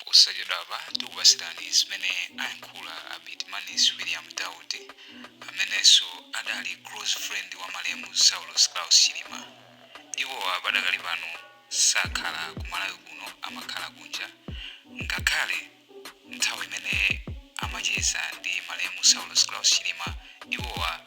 Posachedwapa tikupatsirani zimene ayankhula a Bitimanis William Daud, amenenso adali close friend wa malemu Saulos Klaus Chilima. Iwowa padakali pano sakhala ku Malawi kuno amakhala kunja ngakhale nthawi imene amacheza ndi malemu Saulos Klaus Chilima iwowa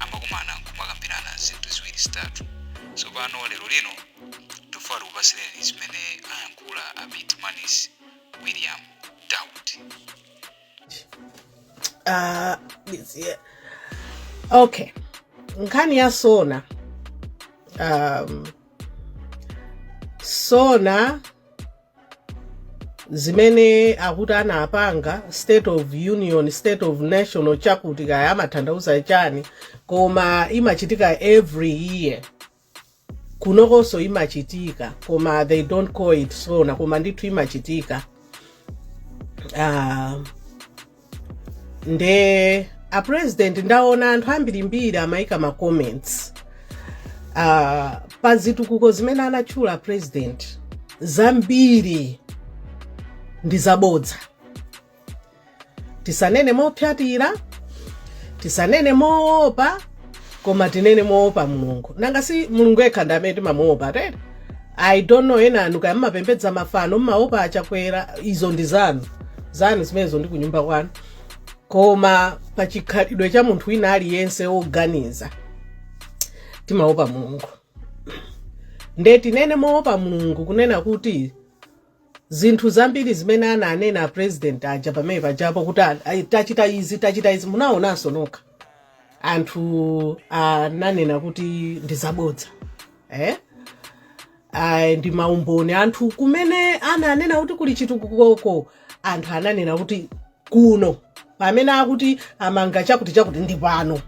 amakumana nkumakambirana zinthu ziwiri zitatu tsopano lero lino tufuna tikupatsireni zimene ayankhula a bitmanis william daud Ah, this year. okay nkhani ya sona um, sona zimene akuti anapanga state of union state of national chakuti kaya amatanthauza chani koma imachitika every year kunokonso imachitika koma they don't call it sona koma ndithu imachitika uh, nde a president ndaona anthu ambirimbiri amayika ma comments uh, pa zitukuko zimene anatchula a president zambiri ndi zabodza tisanene mopyatira tisanene moopa koma tinene moopa mulungu nanga si mulungu yekha ndi amene timamuopa tete i don't know ena anu kaya mumapembedza mafano mumaopa achakwera izo ndi zanu zanu zimenezo ndi kunyumba kwanu koma pa chikhalidwe cha munthu wina aliyense woganiza timaopa mulungu nde tinene moopa mulungu kunena kuti Zinthu zambiri zimene ananena a president aja pamene pajapo kuti a- a- tachita izi tachita izi munaonanso nokha anthu ananena kuti ndi zabodza eh? Ah, ndi maumboni anthu kumene ananena kuti kuli chitukukoko anthu ananena kuti kuno pamene akuti amanga chakuti chakuti ndi pano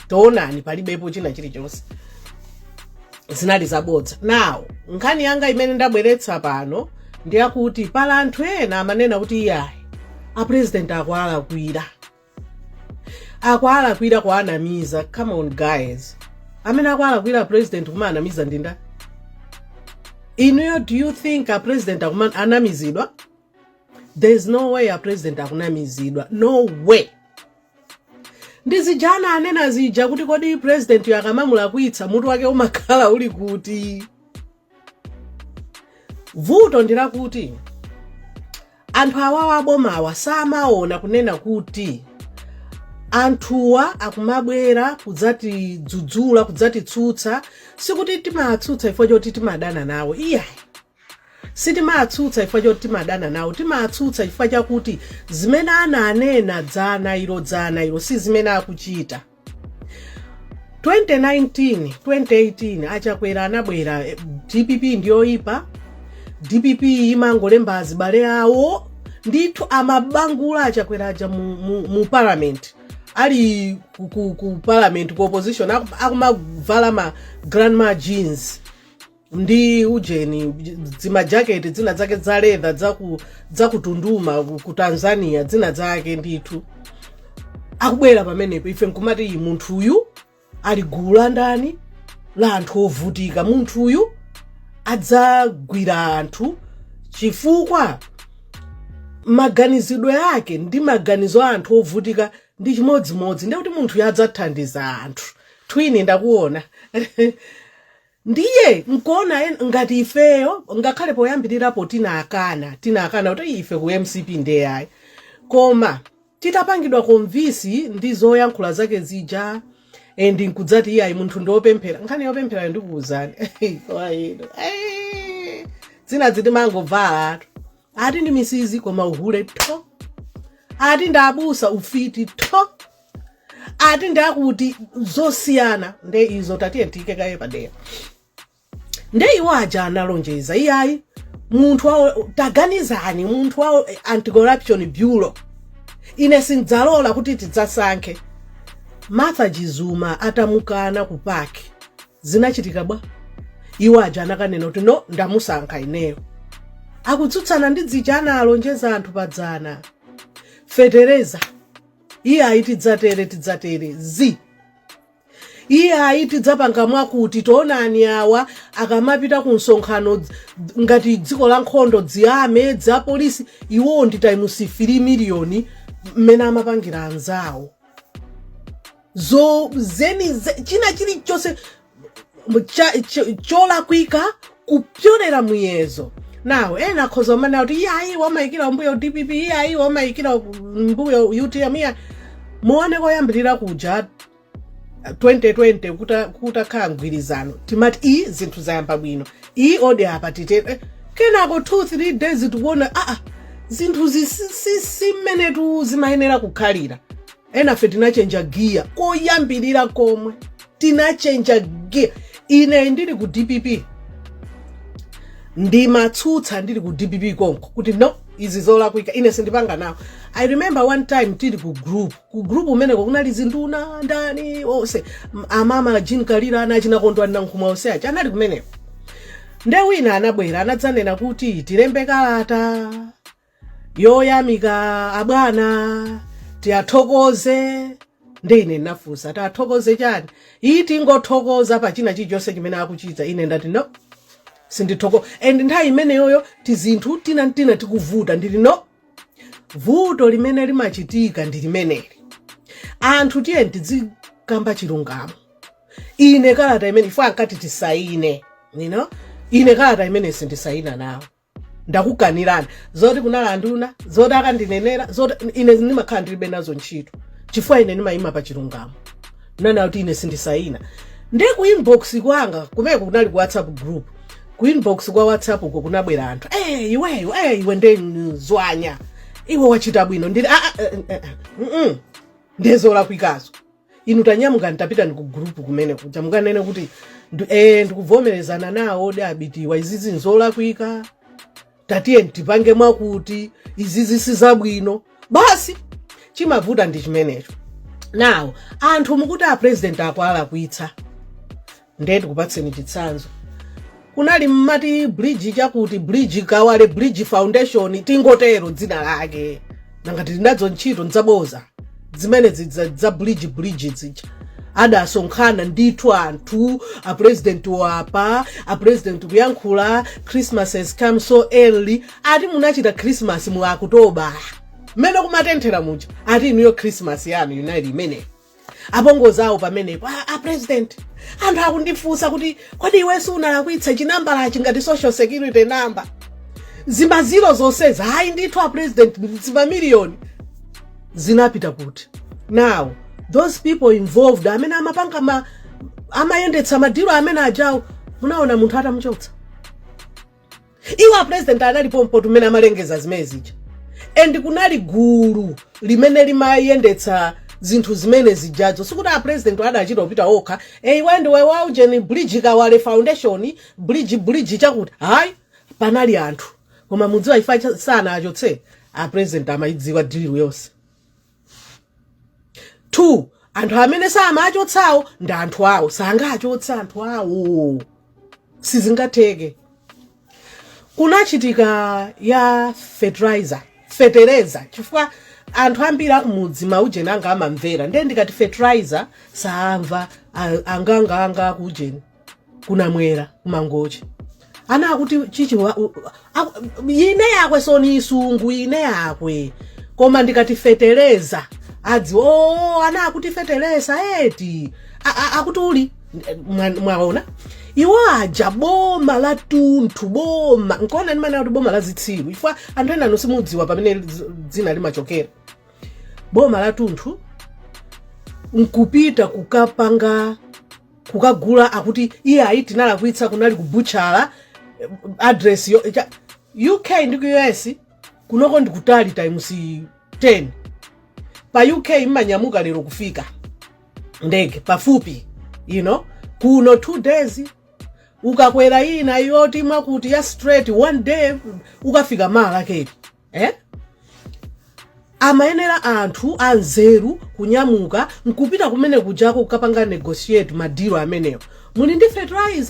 taonani palibepo china chilichonse zinali zabodza now nkhani yanga imene ndabweretsa pano ndi yakuti pali anthu ena amanena kuti iyayi a president akuwalakwira akuwalakwira kuwanamiza come on guys amene akuwalakwira a president kumawanamiza ndi nda inuyo do you think a president akunamizidwa there is no way a president akunamizidwa no way ndi zija anena zija kuti kodi presidentiyo akamamulakwitsa mutu wake umakhala uli kuti vuto ndi lakuti anthu awawa abomawa samaona kunena kuti anthuwa akumabwera kudzatidzudzula kudzatitsutsa sikuti timatsutsa chifukwa choti timadana nawo iyayi Sitimatsutsa chifukwa choti timadana nawo. Timatsutsa chifukwa chakuti zimene ananena dzana ilo dzana ilo si zimene akuchita. 2019 2018 achakwera anabwera eh, dpp ndiyoyipa dpp imangolemba azibale awo ndithu amabangula achakwera aja mu, mu, mu parliament ali ku, ku, ku parliament ku opposition aku- akumavala ma grandma jeans ndi ujeni dzimajaketi dzina dzake dza leather dzaku- dzakutunduma ku- ku tanzania dzina dzake ndithu akubwera pamenepa ife nkumati iyi munthu uyu ali gulu la ndani la anthu ovutika munthu uyu adzagwira anthu chifukwa maganizidwe ake ndi maganizo a anthu ovutika ndi chimodzimodzi ndekuti munthu uyu adzathandiza anthu Then ndakuona Ndiye nkuona ngati ifeyo ngakhale poyambirirapo tinakana, tinakana kuti "Ii, ife ku mcp nde ayi. Koma titapangidwa convince ndi zoyankhula zake zija and nkudzati iyayi munthu ndi opemphera. Nkhani yopempherayo ndikuuzani. Zinazi timangovalatu. Ati ndi Mrs koma uhule tho. Ati ndi abusa ufiti tho. ati ndi akuti zosiyana nde izo tatiye tiyike kaye padera nde iwo aja analonjeza iyayi munthu wawo taganizani munthu wawo anti-corruption bureau ine sindzalola kuti tidzasankhe martha chizuma atamukana ku PAC zinachitika bwa iwo aja anakanena kuti no ndamusankha ineyo akutsutsana ndi dzija analonjeza anthu padzana fetereza iyayi tidzatere tidzatere zi iyayi tidzapanga mwakuti taonani awa akamapita ku msonkhano dz- dz- ngati dziko la nkhondo dziyame dza polisi iwowo ndi times 3 miliyoni mmene amapangira anzawo zo zeni ze- china chilichonse cholakwika kupyolera muyezo now ena akhoza kumanena kuti iyayi umayikira kumbuyo dpp iyayi umayikira kumbuyo utm iyayi muone koyambirira kuja 2020 kutakhala mgwirizano timati iyi zinthu zayamba bwino iyi odi apa titere eh, kenako 2 3 days tikuona aa ah, ah, zinthu izi si mmenetu zimayenera kukhalira enafe tinachenja giya koyambirira komwe tinachenja giya ine ndili ku dpp ndimatsutsa ndili ku dpp konko kuti no izi zolakwika ine sindipanga nawo i remember one time tili ku group ku group umeneko kunali zinduna ndani onse M- amama jean kalira anachina kondwa nankhumwa onse aja anali kumeneko nde wina anabwera anadzanena kuti tilembe kalata yoyamika abwana tiyathokoze nde ine ndinafunsa tiyathokoze chani iyi tingothokoza pa china chilichonse chimene akuchita ine ndati no sindithoko and nthawi imeneyoyo tizinthu tina tina tikuvuta ndili no vuto limene limachitika ndi limeneli anthu tiyeni tidzikamba chilungamo ine kalata imene iwo ankati tisayine you know? ine kalata imene sindisayina nawo ndakukanirani zoti kunali anduna zoti akandinenera zoti ine ndimakhala ndilibe nazo ntchito chifukwa ine ndimayima pa chilungamo nanena kuti ine sindisayina nde ku inbox kwanga kumeko kunali ku whatsapp group ku inbox kwa whatsapp uko kunabwera anthu eh iweyo eh iwe nde mzwanya iwe wachita bwino ndili ah, ah, eh, eh, eh, mm, mm. ndezolakwikazo inu tanyamukani tapitani ku gurupu kumene kuja mukanene kuti ndu- eh, ndikuvomerezana nawo odi abitiwa izizi nzolakwika tatiye tipange mwakuti izizi sizabwino basi chimavuta ndi chimenecho nawo anthu mukuti a president akulakwitsa ndiye tikupatseni chitsanzo kunali mmati bridge chakuti bridge kawale bridge foundation tingotero dzina lake nanga ngati tili nazo ntchito ndzaboza zimene zidza- za bridge bridge zija adasonkhana ndithu anthu apurezidenti apa apurezidenti kuyankhula christmas has come so early ati munachita christmas mu okutobala mmene kumatenthera muja ati inuyo christmas yanu inali imeneyi apongozi awo pamenepo a, a president anthu akundifunsa kuti kodi iwenso unalakwitsa chinambala chingati social security number zimaziro zonsezi hayi ndithu a president zimamiliyoni zinapita kuti now those people involved amene amapanga ma amayendetsa madiro amene ajawo munaona munthu atamuchotsa iwo apresident anali pompo mmene amalengeza zimene zija and kunali gulu limene limayendetsa zinthu zimene zijazo sikuti apresident adachita kupita okha a iwe ndiwe waujeni bridge kawale foundation bridge bridge chakuti hayi panali anthu koma mudziwa chifukwa sanawachotse apresident amayidziwa dilu yonse 2 anthu amene samachotsawo ndi anthu awo sangachotse anthu awo sizingatheke kunachitika ya fertilizer fetereza chifukwa anthu ambiri kumudzi maujeni anga amamvera ndiye ndikati fertilizer saamva a- anganganga akujeni kunamwera kumangochi ana akuti chichi wa- u- aku- ine yakwe soni isungu ine yakwe koma ndikati fetereza adziwa o ana akuti fetereza eti A- a- akuti uli Mwa- mwaona iwo aja boma la tunthu boma nkuona ndimanena kuti boma la zitsiru chifukwa anthu enanu simudziwa pamene dz- dzina limachokera boma la tunthu nkupita kukapanga kukagula akuti iyayi tinalakwitsa kunali kubutchala eh, address yo cha- uk ndi ku us kunoko ndi kutali times 10 pa uk imanyamuka lero kufika ndege pafupi kuno two days ukakwera ina yoti mwakuti ya straight one day ukafika mala keti eh? amayenera anthu anzeru kunyamuka nkupita kumene kujako kukapanga negotiate madilo amenewo muli ndi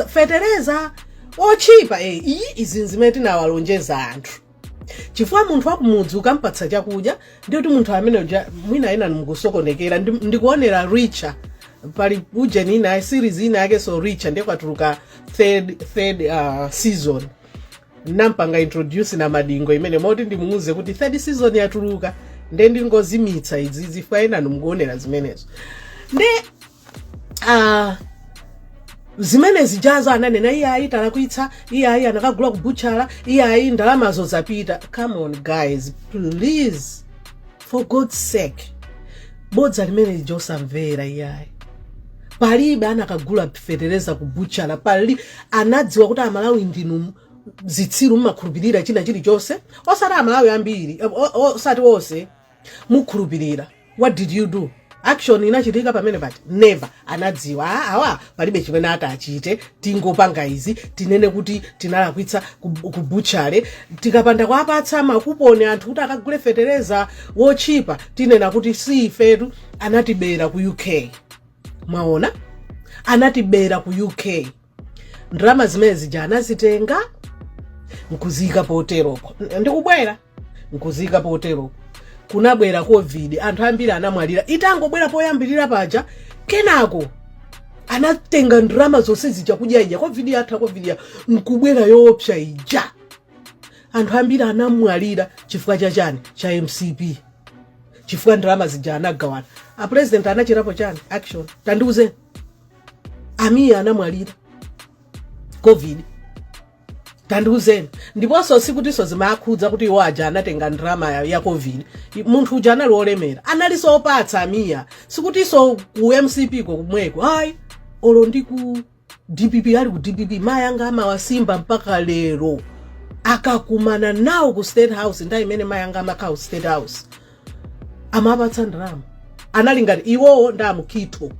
fetereza otchipa eh, iyi izi nzimene tinawalonjeza anthu chifukwa munthu wakumudzi ukampatsa chakudya ndi kuti munthu amene mwina ena mukusokonekera ndi- ndikuonera richa pali ujeni ina series ina yake so richa ndiye kwatuluka third, third uh, season nampanga introduce na madingo imene moti ndimuuze kuti third season yatuluka nde ndingozimitsa izi chifukwa enanu mukuonera zimenezo nde uh, zimene zijazo ananena iyayi talakwitsa iyayi anakagula kubutchala iyayi ndalamazo zapita come on guys please for god's sake bodza limene lija osamvera iyayi palibe anakagula fetereza ku butchala pali anadziwa kuti amalawi ndinu zitsiru mmakhulupirira china chilichonse osati amalawi ambiri o- o- osati onse mukhulupirira what did you do action inachitika pamene pati never anadziwa "Ah, awa palibe chimene atachite tingopanga izi tinene kuti tinalakwitsa ku ku butchala tikapanda kuwapatsa makuponi anthu kuti akagule fetereza wotchipa tinena kuti si ifetu anatibera ku uk mwaona anatibera ku uk ndalama zimene zija anazitenga nkuziyika poteropo ndikubwera nkuziyika poteropo kunabwera covid anthu ambiri anamwalira itangobwera poyambirira paja kenako anatenga ndalama zonse zija kudya ija covid yatha covid nkubwera yoopsa ija anthu ambiri anamwalira chifukwa cha chani cha mcp chifukwa ndalama zija anagawana apurezidenti anachitapo chani action tandiuzeni amiya anamwalira covid tandiuzeni ndiponso sikutinso zimakhudza kuti iwo aja anatenga ndrama ya- ya covid I- munthu uja anali olemera analinso opatsa amiya sikutinso ku mcp ko kumweko ayi olo ndi ku dpp ali ku dpp mayi anga amawasimba mpaka lero akakumana nawo ku state house nthawi imene mayi anga amakhala ku state house amapatsa ndalama anali ngati iwowo ndi amukito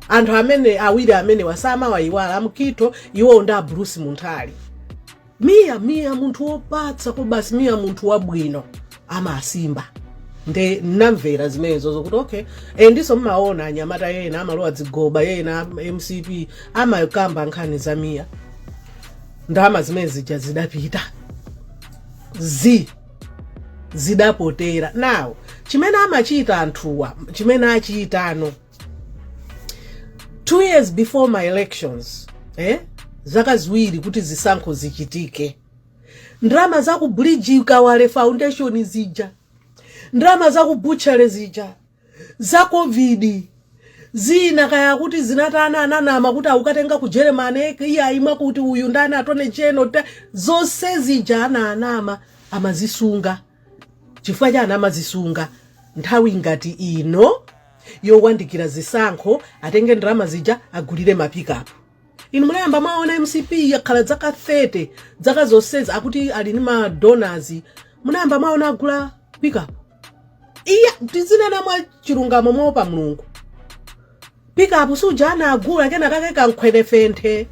anthu amene awiri amenewa samawayiwala amukito iwowo ndi abulusi munthali miya miya munthu wopatsa kwabasi miya munthu wabwino amasimba nde namvera zimenezo zokuti okay e ndiso mmaona anyamata yena amalowa zigoba yena mcp amakamba nkhani za miya ndalama zimene zija zidapita zi zidapotera now chimene amachita anthuwa chimene achitano two years before ma elections zaka ziwiri kuti zisankho zichitike ndalama za ku bridge kawale foundation zija ndalama za ku butchery zija za covid Zina kaya akuti zinatani ananama kuti akukatenga ku Germany iyayi imwe kuti uyu ndani attorney general a- zonse zija ana anama amazisunga chifukwa chani amazisunga nthawi ngati ino yowandikira zisankho atenge ndalama zija agulire mapikapu inu munayamba mwaona mcp yakhala zaka 30 zaka zonsezi akuti ali ni madonors munayamba mwaona agula pikapu iya tizinena mwa chilungamo moopa mulungu pikapu suja anagula kena kake kankhwenefenthe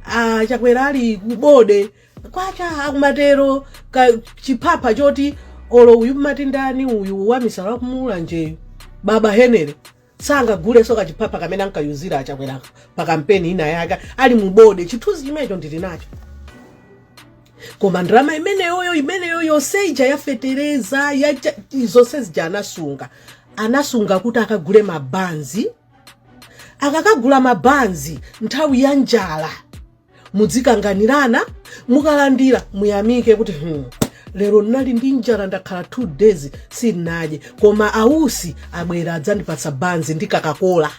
achakwera ali kubode kwacha akumatero kachiphapha choti olo uyu mmatindani uyu wamisala wakumulanjeyu baba henere sangagulenso kachiphapha kamene ankayuza achakwera pa kampeni ina yake ali mubode chithunzi chimenecho ndili nacho koma ndalama imeneyoyo imeneyo yonse ija yafetereza ya cha- zonse zija anasunga anasunga kuti akagule mabanzi akakagula mabanzi nthawi ya njala mudzikanganirana mukalandira muyamike kuti hmm, lero ndinali ndi njala ndakhala 2 days sindinadye koma ausi abwera adzandipatsa banzi ndi kokakola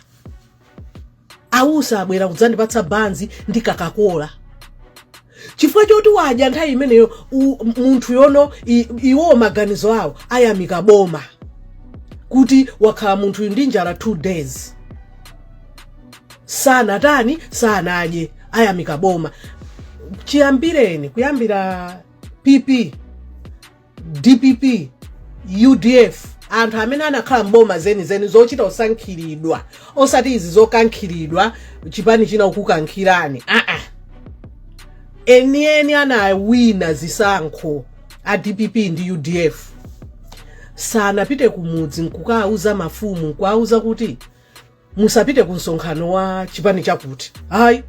ausi abwera kudzandipatsa banzi ndi kokakola chifukwa choti wadya nthawi imeneyo u- munthu uyo ndi iwo maganizo awo ayamike boma kuti wakhala munthu uyu ndi njala 2 days sanatani sanadye ayamika boma chiyambireni kuyambira pp dpp udf anthu amene anakhala mboma zenizeni zochita kusankhiridwa osati izi zokankhiridwa chipani china kukukankhirani aa enieni anawina zisankho a dpp ndi udf sanapite kumudzi nkukauza mafumu nkuauza kuti musapite ku msonkhano wa chipani chakuti ayi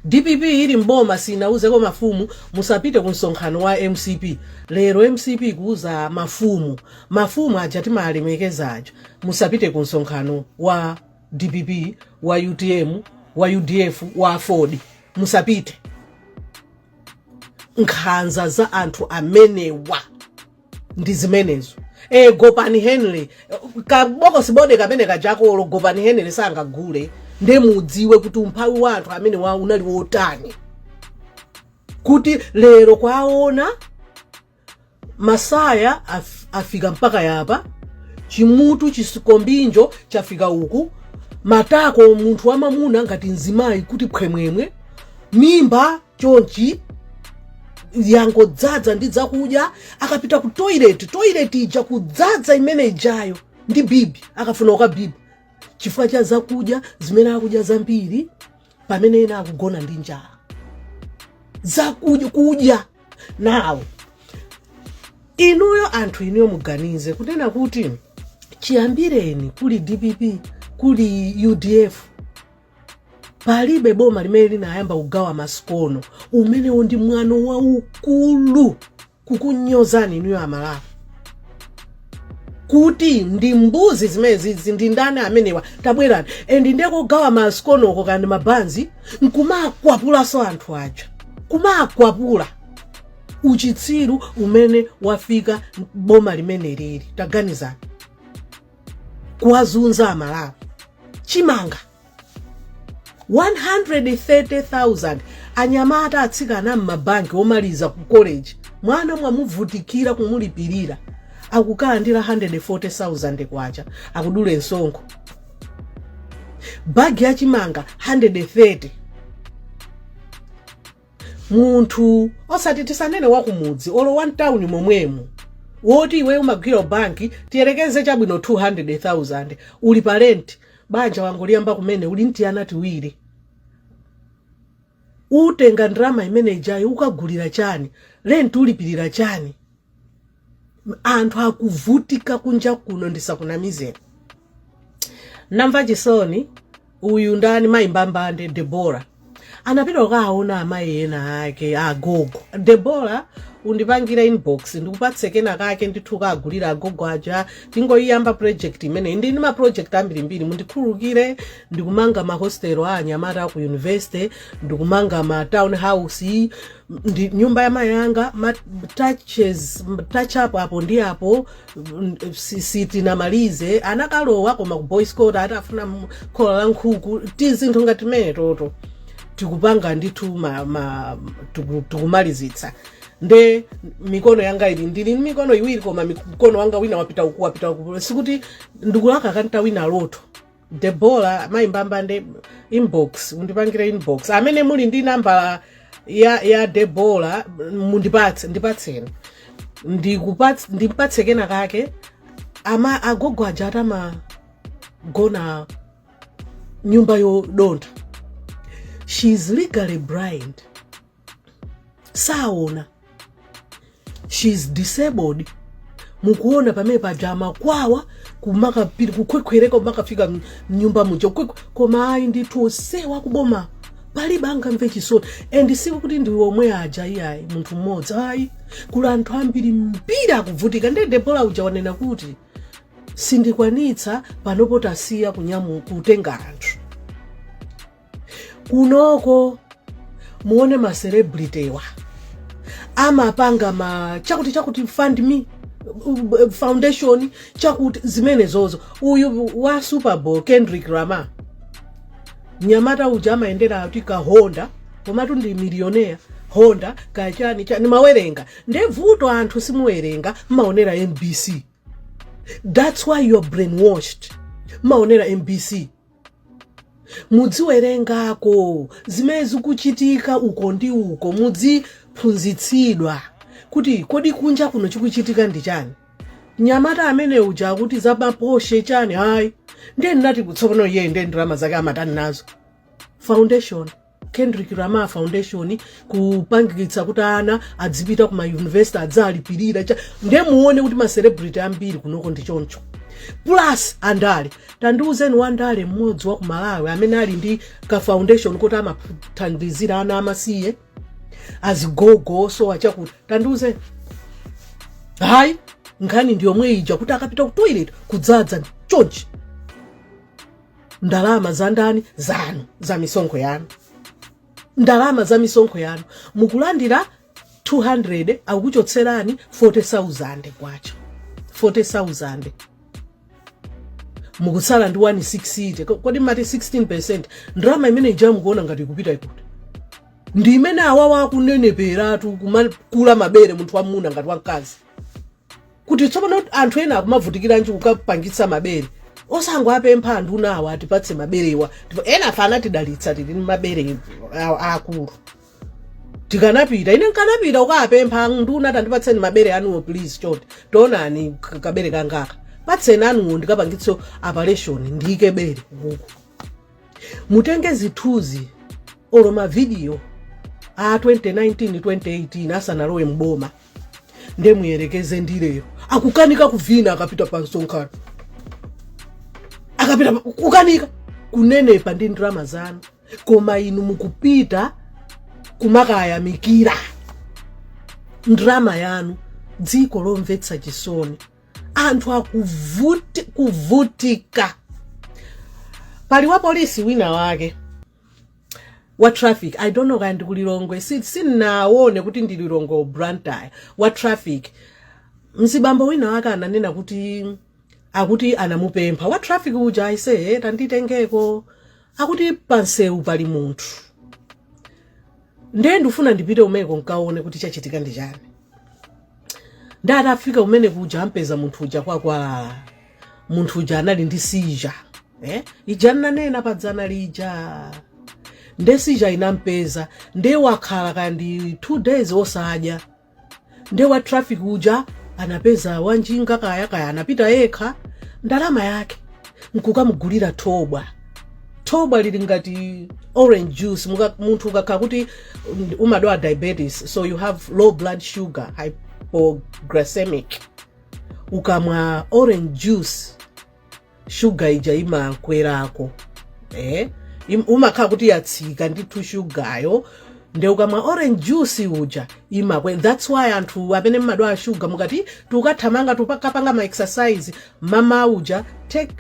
dpp ili mboma sinauzeko mafumu musapite ku msonkhano wa mcp lero mcp kuuza mafumu mafumu aja timawalemekeza aja musapite ku msonkhano wa dpp wa utm wa udf wa aford musapite nkhanza za anthu amenewa ndi zimenezo e, gopani henry kabokosi bode kamene kajakolo gopani henry sangagule nde mudziwe kuti umphawi wa anthu amenewa unali wotani kuti lero kwaona masaya af, afika mpaka yapa chimutu chisikombinjo chafika uku matako munthu wamamuna ngati mzimayi kuti phwemwemwe mimba chonchi yangodzadza ndi zakudya akapita ku toilet toilet ija kudzadza imene ijayo ndi bibi akafuna kukabiba chifukwa cha zakudya zimene akudya zambiri pamene ena akugona ndi njala zakudya kudya nawo inuyo anthu inuyo muganize kunena kuti chiyambireni kuli dpp kuli udf palibe boma limene linayamba kugawa masikono umenewo ndi mwano waukulu kukunyozani inuyo amalawi kuti ndi mbuzi zimenezi izi ndi ndani amenewa tabwerani and nde kugawa masikono okoka ndi mabanzi nkumakwapulanso anthu aja kumakwapula uchitsiru umene wafika boma limene lili taganizani kuwazunza amalawi chimanga 130,000 anyamata atsikana m'mabanki omaliza ku college mwana mwamuvutikira kumulipirira akukalandira 140,000 kwacha akudule msonkho bagi ya chimanga 130 munthu osati tisanene wakumudzi olo wa mtawuni momwemo woti iwe umagwira banki tiyerekeze chabwino 200000 uli pa rent banja wangoliyamba kumene uli ndi tiana tiwiri utenga ndalama imene ijayo ukagulira chani rent ulipirira chani anthu akuvutika kunja kuno ndisakunamizeni namva chisoni uyu ndani mayi mbambande debora anapita kukaona amayi ena ake agogo debora undipangire inbox ndikupatse kena kake ndithu ukagulire agogo aja tingoyiyamba project imeneyi ndi ndi ma project ambirimbiri mundikhululukire ndikumanga ma hostel a anyamata aku university ndikumanga ma town house ndi nyumba ya mayi anga ma touches touch up apo ndi apo mm, si- sitinamalize anakalowa koma ku boys quarter atafuna m- khola la nkhuku tizinthu ngati timeneto to tikupanga ndithu ma, ma, tiku- tikumalizitsa nde mikono yanga ili ndili ndi mikono iwiri koma mkono wanga wina wapita uku wapita uku sikuti ndikulakalaka nditawina lotto debora mayi mbambande inbox undipangire inbox amene muli ndi nambala ya, ya debora mundipatse ndipatseni Ndikupats- ndimpatse kena kake amayi agogo aja asamagona nyumba yodontha she is legally blind saona she is disabled mukuona pamene paja amakwawa kumakapita kukhwekhwereka kumakafika m- mnyumba muja kukhwekwe- koma ayi ndithu onsewa akuboma palibe angamve chisoni and sikuti ndi omwe aja iyayi munthu mmodzi ayi kuli anthu ambirimbiri akuvutika ndiye debora uja wanena kuti sindikwanitsa panopo tasiya kunyamu kutenga anthu kunoko muone ma celebrity wa amapanga ma chakuti chakuti fund me uh, foundation chakuti zimenezozo uyu wa super bowl kendrick lamar mnyamata uja amayendera kuti ka honda komatu ndi miliyonea honda kachani chani mumawerenga nde vuto anthu simuwerenga mmaonera mbc that's why you're brainwashed mmaonera mbc mudziwerengako zimene zikuchitika uko ndi uko mudziphunzitsidwa kuti kodi kunja kuno chikuchitika ndi chani nyamata amene uja akuti zamaposhe chani ayi ndiye ndinati kutsopano iyeyi ndiye ndalama zake amatani nazo foundation kendrick lamar foundation kupangitsa kuti ana adzipita ku mayunivesiti adzalipirira cha- ndiye muone kuti macelebrity ambiri kunoko ndi choncho plus andale tandiuzeni wandale mmodzi wa ku malawi amene ali ndi ka foundation kuti amathandizira ana amasiye azigogo osowa chakuti tandiuzeni hayi nkhani ndiyomwe ija kuti akapita ku toilet kudzadza chonchi ndalama za ndani zanu za misonkho yanu ndalama za misonkho yanu mukulandira 200 akukuchotserani 40000 kwacha 40000 mukutsala ndi 160 Ko- kodi mmati 16% ndalama imene ija mukuona ngati ikupita kuti ndi imene awawa akuneneperatu kumakula mabere munthu wamuna ngati wamkazi kuti tsopano anthu ena akumavutikiranji kukapangitsa mabere osangowapempha ndunawa atipatse maberewa ena afana atidalitsa tili ndi mabere a- aakulu tikanapita ine nkanapita kukawapempha nduna tandipatseni mabere anuwo please taonani k- kabere kangaka patseni anuwo ndikapangitse operation ndiyike bere uku mutenge zithunzi olo mavidiyo a 2019 2018 asanalowe mboma nde muyerekeze ndi lero akukanika kuvina akapita pa msonkhano akapita pa- kukanika kunenepa ndi ndalama zanu koma inu mukupita kumakayamikira ndalama yanu dziko lomvetsa chisoni anthu akuvutika pali wapolisi wina wake wa traffic i don't know kaya ndi kulilongwe si- sindinaone kuti ndi lilongwe or blantyre wa traffic mzibambo wina wake ananena akuti anamupempha wa traffic uja aise tanditengeko akuti pansewu pali munthu ndiye ndifuna ndipite umeko nkaone kuti chachitika ndi chani nde atafika umene kuja ampeza munthu uja kwakwalala munthu uja anali ndi seizure eh? ija nnanena padzana lija nde seizure inampeza nde wakhala kaya ndi two days osadya nde wa traffic uja anapeza wanjinga kaya kaya anapita yekha ndalama yake nkukamugulira thobwa thobwa lili ngati orange juice Muka, munthu ukakhala kuti mm, umadwala diabetes so you have low blood sugar hypoglycemic ukamwa orange juice shuga ija imakwerako e umakhala kuti yatsika ndithu shugayo nde ukamwa orange juice uja imakwera that's why anthu amene mmadwala shuga mukati tukathamanga tukapanga ma exercise mamauja take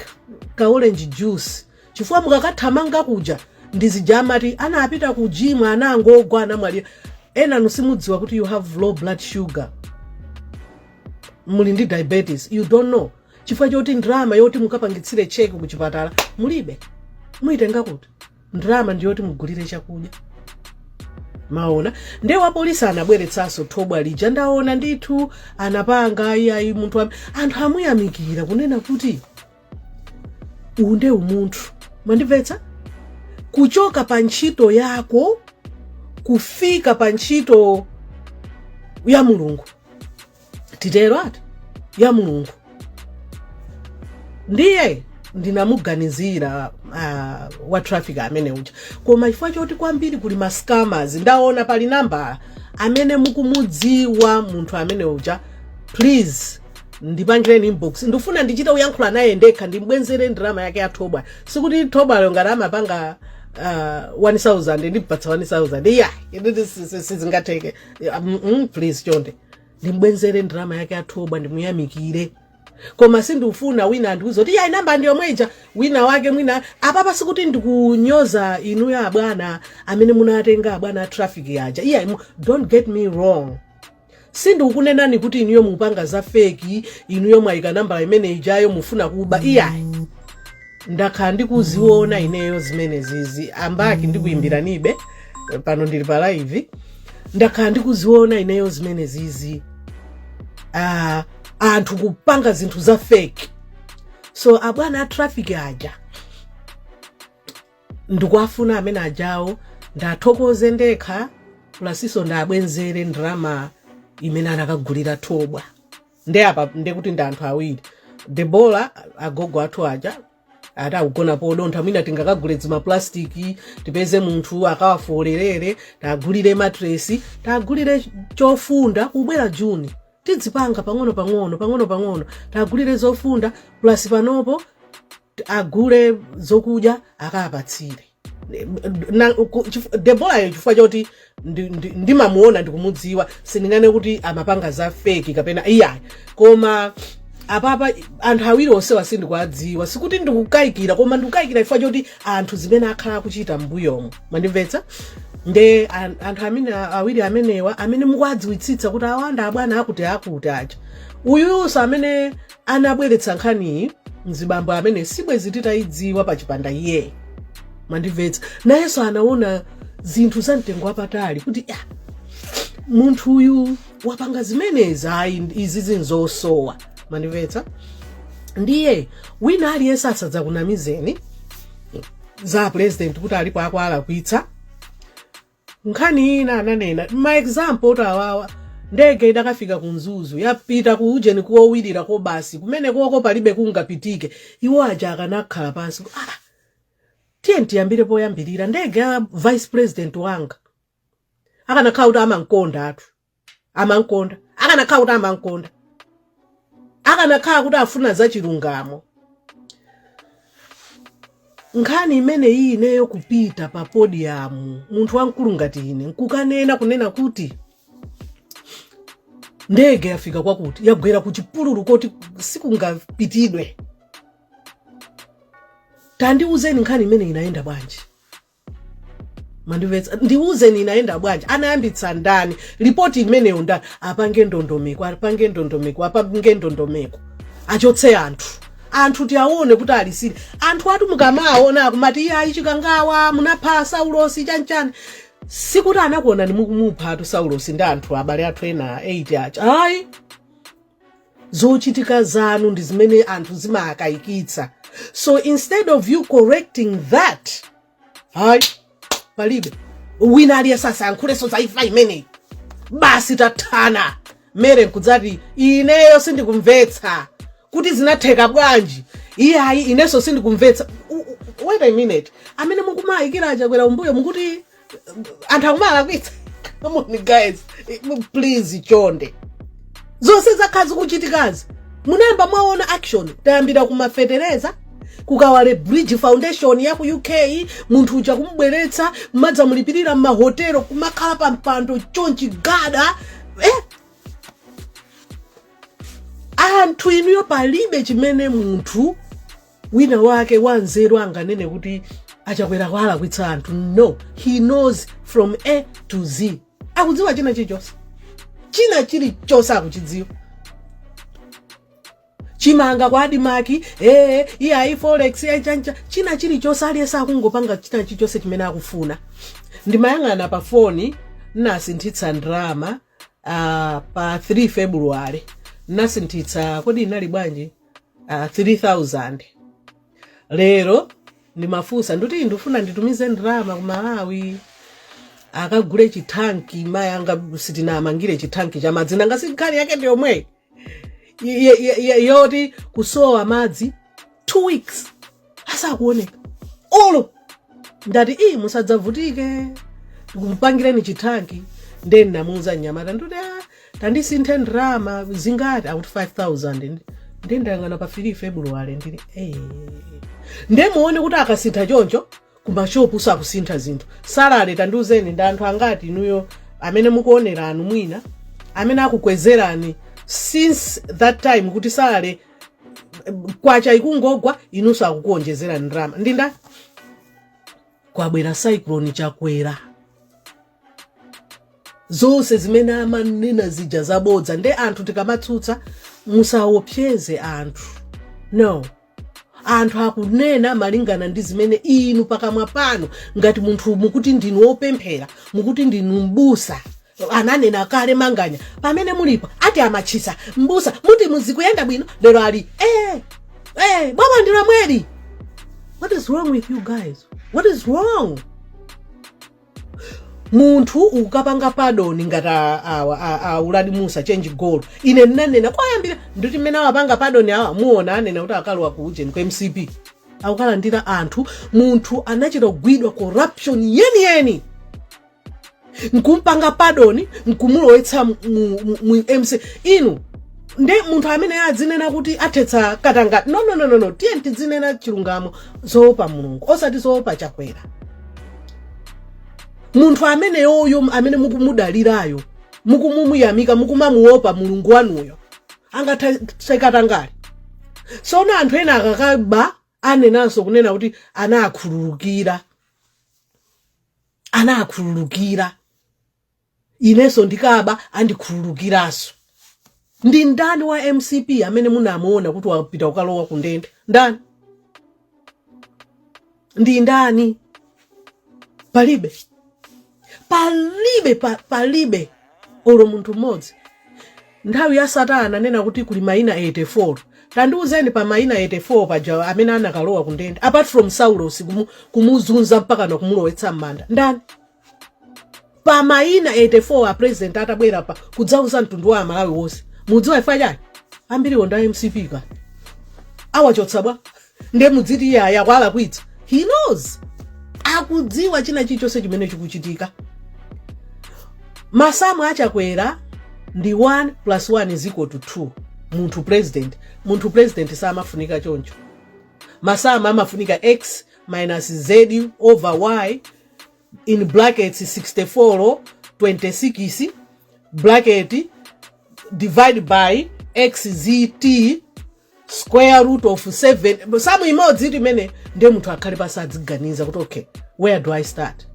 ka orange juice chifukwa mukakathamanga kuja ndi zija amati anapita ku gym anangogwa anamwalira enanu simudziwa kuti you have low blood sugar muli ndi diabetes you don't know chifukwa choti ndalama yoti mukapangitsire cheki kuchipatala mulibe muyitenga kuti ndalama ndiyoti mugulire chakudya mwaona nde wapolisi anabweretsanso thobwa lija ndaona ndithu anapanga iyayi munthu am- anthu amuyamikira kunena kuti uwu nde umunthu mwandimvetsa kuchoka pa ntchito yako kufika pa ntchito ya mulungu titero ati ya mulungu ndiye ndinamuganizira uh, wa traffic amene uja koma chifukwa choti kwambiri kuli mascammers ndaona pali namba amene mukumudziwa munthu amene uja please ndipangireni inbox ndifuna ndichite kuyankhula naye ndekha ndimbwenzere ndalama yake ya thobwa sikuti thobwalo ngati amapanga uh, 1000 ndipatsa 1000 iyayi nditi si- si- sizingatheke Ah, mm, mm, please chonde ndimbwenzere ndalama yake ya thobwa ndimuyamikire koma sindifuna wina andiuze kuti iyayi namba ndi yomwe ija wina wake mwina apapa sikuti ndikunyoza inuyo abwana amene munatenga abwana a traffic aja iyayi mu- don't get me wrong sindikukunenani kuti inuyo mupanga za feki inuyo mwayika namba imene ijayo mufuna kuba iyayi ndakhala ndikuziona ineyo zimenezizi ambaki ndikuyimbiranibe pano ndili pa live ndakhala ndikuziona ineyo zimenezizi ah, anthu kupanga zinthu za feki so abwana a traffic aja ndikuwafuna amene ajawo ndathokoze ndekha pulasiso ndabwenzere ndalama imene anakagulira thobwa nde apa ndekuti ndi anthu awiri debora agogo athu aja ati akugona podontha mwina tingakagule dzimapulastiki tipeze munthu akawafolerere tagulire matresi tagulire chofunda kubwera juni tidzipanga pang'ono pang'ono pang'ono pang'ono tagulire zofunda pulasi panopo agule zokudya akapatsire Debora yo chifukwa choti ndimamuona ndikumudziwa sindinganene kuti amapanga za feki kapena iyayi koma apapa anthu awiri onsewa sindikuwadziwa sikuti ndikukayikira koma ndikukayikira chifukwa choti anthu zimene akhala akuchita mbuyomo mandimvetsa nde anthu awiri amenewa amene mukuwadziwitsitsa kuti awanda abwana akuti akuti aja uyuso amene anabweretsa nkhaniyi mzibambo amene sibwezi titayidziwa pachipanda iyeyu mandimvetsa nayenso anaona zinthu za mtengo wapatali kuti ah, munthu uyu wapanga zimenezi ayi izi nzosowa mandimvetsa ndiye wina aliyense asadzakunamizeni za president kuti alipo akuwalakwitsa Nkhani ina ananena ma example oti awawa ndege idakafika ku Mzuzu yapita ku ujeni kowirira ko basi kumene koko palibe kungapitike iwo aja akanakhala pansi ku- ah, tiye tiyambire poyambirira ndege ya vice president wanga akanakhala kuti amamkonda athu amankonda akanakhala kuti amankonda akanakhala kuti afuna za chilungamo nkhani imene iyi ineyo kupita pa podium munthu wamkulu ngati ine nkukanena kunena kuti ndege yafika kwakuti yagwera ku chipululu koti sikungapitidwe tandiuzeni nkhani imene inayenda bwanji mandimvetsa ndiwuzeni inayenda bwanji anayambitsa ndani lipoti imeneyo ndani apange ndondomeko apange ndondomeko apange ndondomeko achotse anthu anthu tiawone kuti ali serious anthu atu mukamaona akumati iyayi chikangawa munapha saulosi chanchani sikuti anakuonani mukumupha atu saulosi ndi anthu abale athu ena 8 aja ayi zochitika zanu ndi zimene anthu zimawakayikitsa so instead of you correcting that hayi palibe wina aliyense asayankhulenso za imfa imeneyi basi tathana mere nkudzati ineyo sindikumvetsa kuti zinatheka bwanji iyayi inenso sindikumvetsa wait a minute amene mukumayikira a Chakwera umbuyo mukuti anthu akumalakwitsa come on guys Eh, please chonde zonse zakhala zikuchitikazi munayamba mwaona action tayambira ku ma fetereza ku Kawale Bridgin Foundation ya ku uk munthu uja kumubweretsa kumadzamulipirira m'mahotelo kumakhala pa mpando chonchi gada eh? anthu inuyo palibe chimene munthu wina wake wanzeru anganene kuti achakwera kwalakwitsa anthu no he knows from a to z akudziwa china chilichonse china chilichonse akuchidziwa chimanga kwa admarc ee iyayi forex yachancha china chilichonse aliyense akungopanga china chilichonse chimene akufuna ndimayang'ana pa foni nasinthitsa ndrama uh, pa 3 february nasinthitsa kodi inali bwanji ah, 3000 lero ndimafunsa ndikuti ndifuna nditumize ndalama ku malawi akagule chithanki mayi anga sitinamangire chithanki cha madzi nanga si nkhani yake ndi yomweyi Ye- ye- ye- yoti kusowa madzi two weeks asakuoneka olo ndati iyi musadzavutike ndikupangireni chithanki nde ndinamuuza mnyamata ndikuti "Ah, tandisinthire ndrama zingati akuti 5000 nde ndayang'ana pa 3 february ndili "Eh." nde muone kuti akasintha choncho kumashopu sakusintha zinthu salary tandiuzeni ndi anthu angati inuyo amene mukuoneranu mwina amene akukwezerani since that time kuti salary kwacha ikungogwa inunso akukuonjezera ndrama ndi ndani kwabwera cyclone chakwera zonse zimene amanena zija zabodza nde anthu tikamatsutsa musaopseze anthu no anthu akunena malingana ndi zimene inu pakamwa panu ngati munthu mukuti ndinu opemphera mukuti ndinu mbusa ananena kale manganya pamene mulipo ati amatchisa mbusa mukuti zikuyenda bwino lero ali eh, eh, boma ndi lomweli what is wrong with you guys what is wrong munthu ukampanga pardon ngati a- awa a- a uladi mussa change goal ine ndinanena kwayambira nditi mmene awapanga pardon awa muona anena kuti akalowa ku ujeni ku mcp akukalandira anthu munthu anachita kugwidwa corruption yeniyeni nkumpanga pardon nkumulowetsa mu- mu- mu- mu mc inu nde munthu amene adzinena kuti athetsa katangale no no no no no tiye tidzinena chilungamo zoopa mulungu osati zoopa chakwera munthu ameneyoyo amene mukumudalirayo mukumumuyamika mukumamuopa mulungu wanuyo angathetse katangale tsono anthu ena akakaba anenanso kunena kuti anakhululukira anakhululukira inenso ndikaba andikhululukiranso ndi ndani wa mcp amene munamuona kuti wapita kukalowa ku ndende ndani ndi ndani palibe palibe pa, palibe olo munthu mmodzi nthawi ya satana ananena kuti kuli maina 84 tandiuzeni pa maina 84 paja amene anakalowa kundende apart from saulosi kumu, kumuzunza mpaka na kumulowetsa m'manda ndani pa maina 84 a president atabwera pa kudzauza mtundu wa amalawi wonse mudziwa chifukwa chani ambiriwo nda MCP ka awachotsa bwa nde mudziti iyayi akuwalakwitsa he knows akudziwa china chilichonse chimene chikuchitika masamu achakwera ndi 1 plus 1 is equal to 2 munthu president munthu president samafunika choncho masamu amafunika x minus z over y in brackets 64 26 bracket divide by xzt square root of 7 samu imodzi itu imene ndiye munthu akhale pasi adziganiza kuti okay where do i start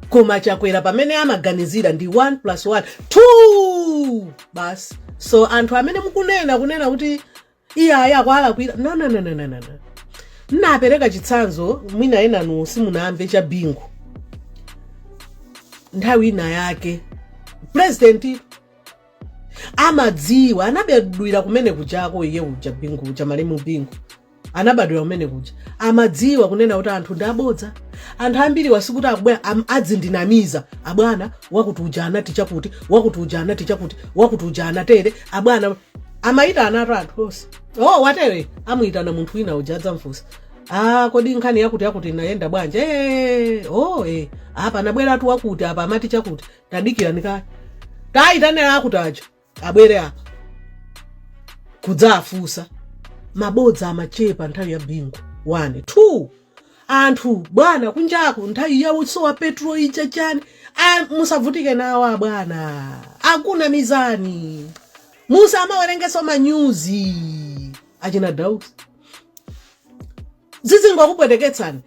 koma chakwera pamene amaganizira ndi 1 plus 1 2 basi so anthu amene mukunena kunena kuti iyayi akuwalakwira no no no no no no no. nnapereka chitsanzo mwina enanu simunamve cha Bingu nthawi ina yake purezidenti amadziwa anabadwira kumene kujako iye uja bingu uja malemu bingu anabadwira kumene kuja amadziwa kunena kuti anthu ndi abodza anthu ambiri wasikuti akubwera am- adzindinamiza abwana wakuti uja anati chakuti wakuti uja anati chakuti wakuti uja anatere abwana amayitanatu anthu onse o watere amuyitana munthu wina uja adzamfunsa a kodi nkhani yakuti yakuti inayenda bwanji e o e apa anabweratu wakuti apa amati chakuti tadikirani kaye tayitanirani akuti aja abwere apa kudzawafunsa mabodza amachepa nthawi ya bingu 1 2 anthu bwana kunjaku nthawi ya usowa petro ija chani Ah, musavutike nawo abwana akunamizani musamawerengeso manyuzi achina dausi zizingokupweteketsani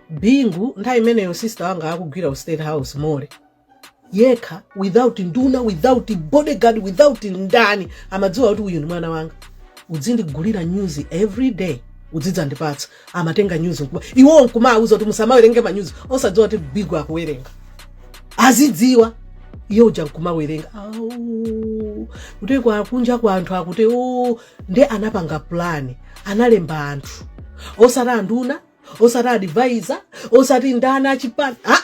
bingu nthawi imeneyo sister wanga akugwira ku state house more yekha without nduna without bodyguard without ndani amadziwa kuti uyu ndi mwana wanga udzindigulira news every day udzidzandipatsa amatenga news nkubayiwa nkumauza kuti musamawerenge manyuzi osadziwa kuti bingu akuwerenga azidziwa iye uja nkumawerenga kuti kwa kunja kwa anthu akuti o nde anapanga plan analemba anthu osati nduna osati advisor osati ndani achipani aa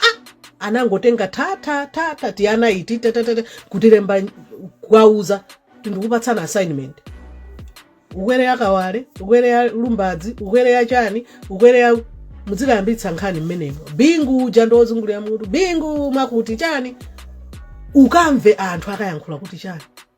anangotenga tathathatha tiana iti tatatata kutilemba kuwauza ndikupatsani assignment ukwere ya kawale ukwere ya lumbadzi ukwere ya chani ukwere ya mudzikayambitsa nkhani mmenemo bingu uja ndi ozungulira mutu bingu mwakuti chani ukamve anthu akayankhula kuti chani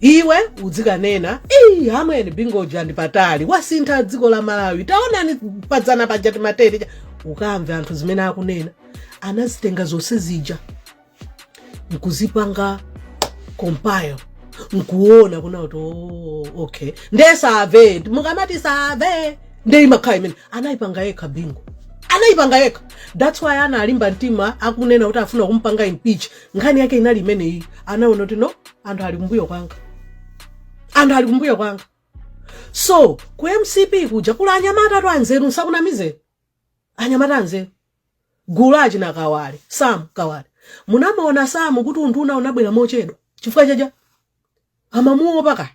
iwe udzikanena eyi amwene bingu uja ndi patali wasintha dziko la malawi taonani padzana paja timateri cha-" ukamve anthu zimene akunena anazitenga zonse zija nkuzipanga compile nkuona kuna kuti "Oh, okay nde save mukamati save nde imakhala imene anayipanga yekha bingu anayipanga yekha that's why analimba mtima akunena kuti afuna kumpanga impeach nkhani yake inali imeneyi anaona kuti no anthu ali kumbuyo kwanga anthu ali kumbuyo kwanga so ku mcp kuja kuli anyamatatu anzeru nsakunamizeni anyamata anzeru gulu la achina kawale sam kawale munamuona sam kuti unduna unabwera mochedwa chifukwa chaja amamuopa kaya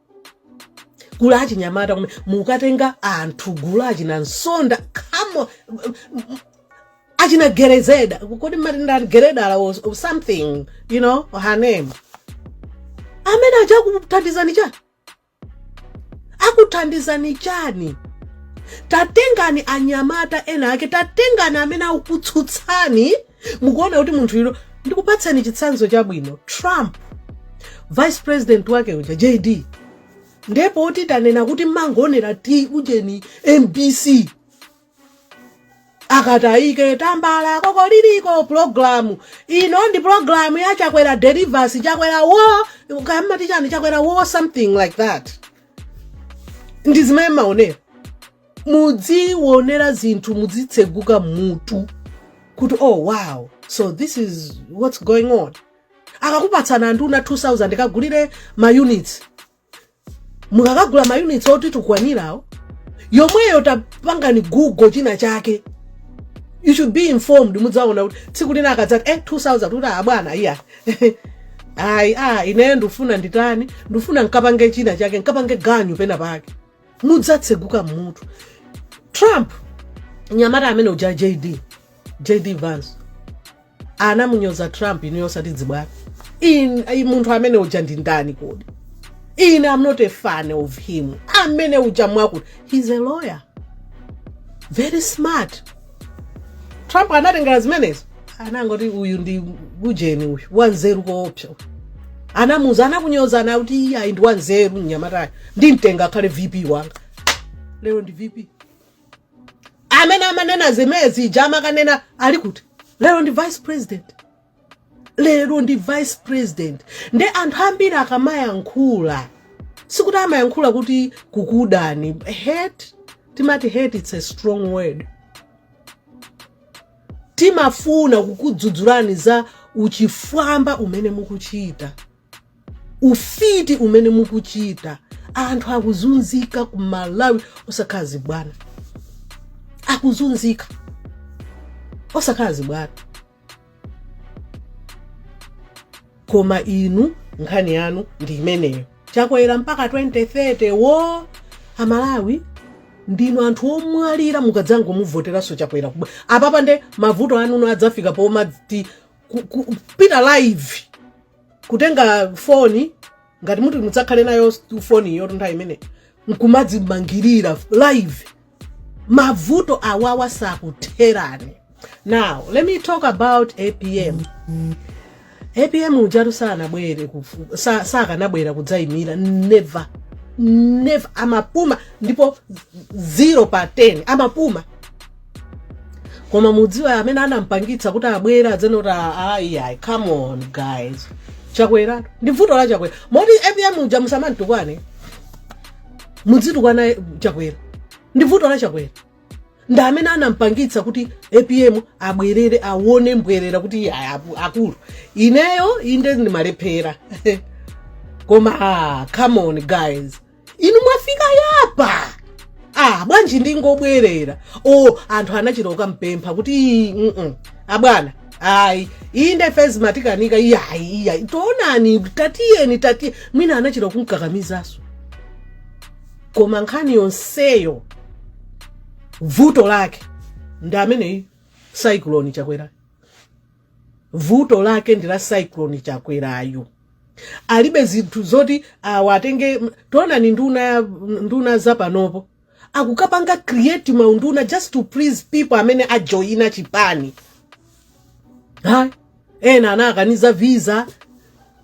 gulu la achinyamata kume mukatenga anthu gulu la achina msonda kamo achina gerezeda kodi matenda ati geredala or or something you know or her name amene aja akuthandizani chani akuthandizani chani tatengani anyamata ena ake tatengani amene akutsutsani Mukuona kuti munthu uyo ndikupatseni chitsanzo chabwino Trump vice president wake uja JD ndiye poti tanena kuti mmangoonera ti ujeni MBC akatayika tambala kokoliriko pulogalamu ino ndi pulogalamu ya chakwera delivers chakwera wo kamati chani chakwera wo something like that ndi zimene mmaonera mudziwonera zinthu mudzitsegula mutu kuti oh wow so this is what's going on akakupatsani anduna 2000 kagulire maunits mukakagula maunits oti tukwanirawo yomweyo tapangani google china chake you should be informed mudzaona kuti tsiku lina akadzati eh 2000 kuti abwana ah, iya ayi a ah, ineyo ndifuna nditani ndifuna nkapange china chake nkapange ganyu pena pake mudzatseguka mutu trump mnyamata amene uja jd jd vance anamunyoza trump inuyo osati zachibwana munthu amene uja ndi ndani kodi ine am not a fan of him amene uja mwakuti he's a lawyer very smart trump anatengera zimenezo anangoti uyu ndi ujeni uyu wanzeru koopsa uyu. anamuuza anakunyozani kuti iye ayi ndi wanzeru mnyamatayu ndimtenga akhale vp wanga lero ndi vp amene amanena zimene zija amakanena ali kuti lero ndi vice president lero ndi vice president nde anthu ambiri akamayankhula sikuti amayankhula kuti kukudani hate timati hate it's a strong word timafuna kukudzudzulani za uchifwamba umene mukuchita ufiti umene mukuchita anthu akuzunzika ku malawi osakhala zibwana akuzunzika osakhala zibwana koma inu nkhani yanu ndi imeneyo chakwera mpaka 2030 wo amalawi ndinu anthu omwalira mukadzangomuvoteranso chakwera kubwera apapa nde mavuto anuwo adzafika pomati kupita live kutenga foni ngati muti mudzakhale nayo foni yoyo nthawi imene nkumadzimangirira live mavuto awawa sakutherani now let me talk about apm apm ujatu sanabwere kufu- sa- sakanabwera kudzayimira never never amapuma ndipo 0 pa 10 amapuma koma mudziwe amene anampangitsa kuti abwere adzanene kuti ayi ayi come on guys chakwera ndi vuto la chakwera moti apm uja musamantukwane mudzitukwana chakwera ndi vuto la chakwera ndi amene anampangitsa kuti apm abwerere awone mbwerera kuti iye ayi apu- akulu ineyo inde ndimalephera koma ah, come on guys inu mwafika apa ah bwanji ndingobwerera o anthu anachita kukampempha kuti "Ii, mm-mm, abwana ayi inde ife izi zatikanika iyayi iyayi taonani tatiyeni tatiye mwina anachita kumkakamizanso koma nkhani yonseyo vuto lake ndi ameneyu cyclone chakwera Vuto lake ndi la cyclone chakwerayu alibe zinthu zoti awatenge taonani nduna nduna zapanopo akukapanga create maunduna just to please people amene ajoina chipani ha ena anawakaniza visa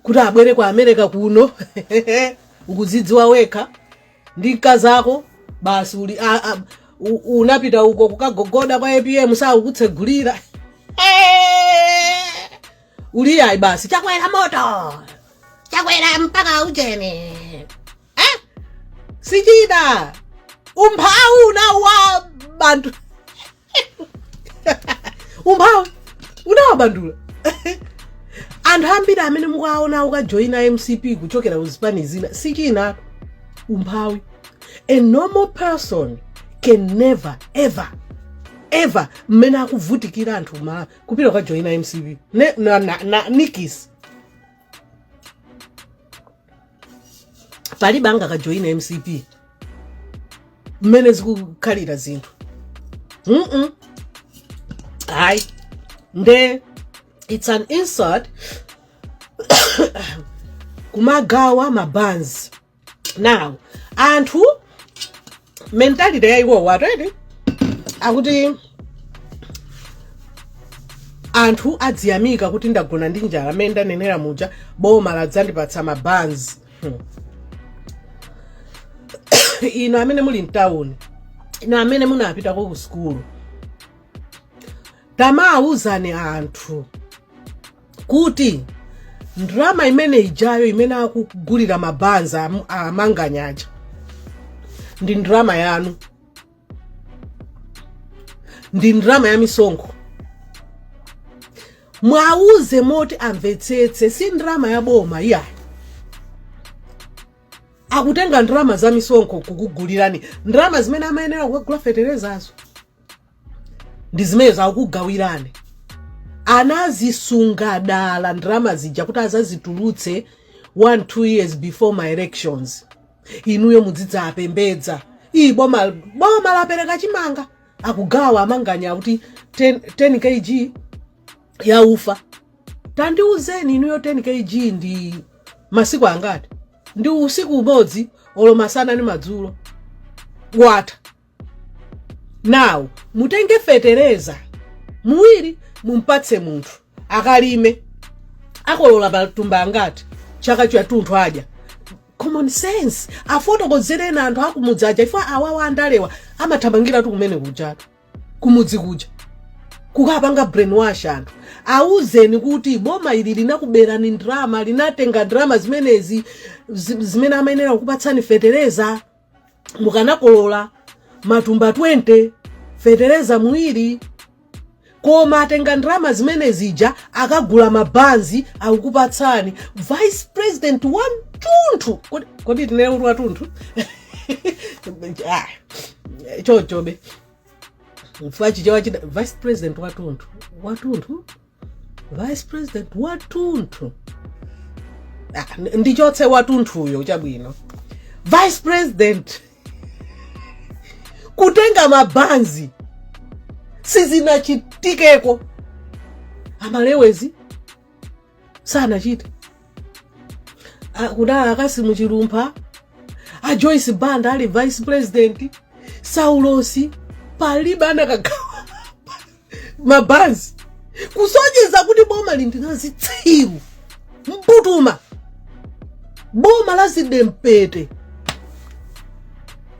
kuti abwere ku america kuno ukuzidziwa wekha ndi mkazako basi uli a, a, u, unapita uko kukagogoda kwa apm sakukutsegulira Eh! uli ayi basi chakwera moto chakwera mpaka ujeni eh? sichida umphawi unawa bantu umphawi unawabandula anthu ambiri amene mukuwaona akukajoyina mcp kuchokera ku zipani zina si china umphawi a normal person can never ever ever mmene akuvutikira anthu kumalawi kupita kukajoyina mcp na nikis palibe angakajoyina mcp mmene zikukhalira zinthu mm hayi nde it's an insult kumagawa mabanzi now anthu mentality ya iwowo ndi yakuti anthu aziyamika kuti ndagona ndi njala amene ndanenera muja boma ladzandipatsa mabanzi hmm. inu amene muli mtawuni inu amene munapitako ku sukulu tamawuzani anthu kuti ndrama imene ijayo imene akugulira mabanzi amanganya aja ndi ndrama yanu ndi ndrama ya misonkho mwauze moti amvetsetse si ndrama ya boma iyayi akutenga ndrama za misonkho kukugulirani ndrama zimene amayenera kukagula feterezazo ndi zimenezo akukugawirani anazisunga dala ndalama zija kuti azazitulutse 1 2 years before ma elections inuyo mudzidzawapembedza ii boma lapereka chimanga akugawa amanganya kuti 10 kg ya ufa tandiuzeni inuyo 10 kg ndi masiku angati ndi usiku umodzi olo masana ndi madzulo watha now mutenge fetereza uwiri mumpatse munthu akalime akolola matumba angati chaka chatunthu adya common sense afotokozereni anthu akumudzi aja chifukwa awawa andalewa amathamangiratu kumene kujatu kumudzi kuja kukapanga brainwash anthu auzeni kuti boma ili linakuberani ndrama linatenga ndrama zimenezi zimene amayenera kukupatsani fetereza mukanakolola matumba 20 fetereza uwiri koma atenga ndrama zimene zija akagula mabanzi akukupatsani vice president watunthu kodi tinene kuti watunthu Ah, chochobe mfachi chabechabe vice president watunthu watunthu vice president watunthu Ah, n- ndichotse watunthuyo chabwino vice president kutenga mabanzi sizinachitikeko a malewezi sanachite Ah, kudali a cassim chilumpha a joyce banda ali vice president saulosi palibe anakagawa mabanzi kusonyeza kuti bomali ndi la zitsiru mbutuma boma la zidempete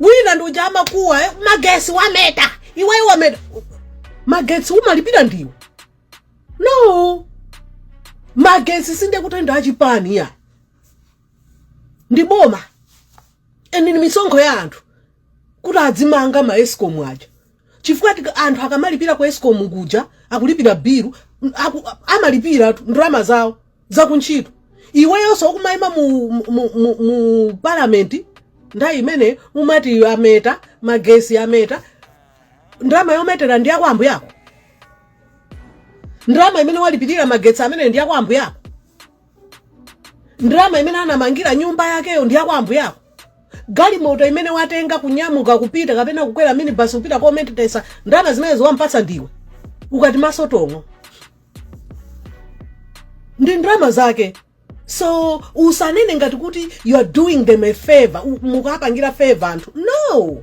wina ndi uja amakuwa eh, magesi wameta iweyo wameta magesi umalipira ndiwe no magesi sindekuti ndi achipani ya ndi boma and ni misonkho ya anthu kuti adzimanga ma escom aja chifukwa tika- anthu akamalipira ku escom kuja akulipira bilu m- aku- amalipiratu ndalama zawo zakuntchito iweyonso ukumayima mu, mu, mu, mu, mu palamenti nthawi imene umati ameta magesi ameta ndalama yometera ndi yakwa ambuye ako ndalama imene walipirira magesi amene ndi yakwa ambuye ako ndalama imene anamangira nyumba yakeyo ndi yakwa ambuye ako galimoto imene watenga kunyamuka kupita kapena kukwera minibus kupita kometesa ndalama zimenezo wampatsa ndiwe ukati maso tong'o ndi ndalama zake so usanene ngati kuti you are doing them a favor u- mukuwapangira favor anthu no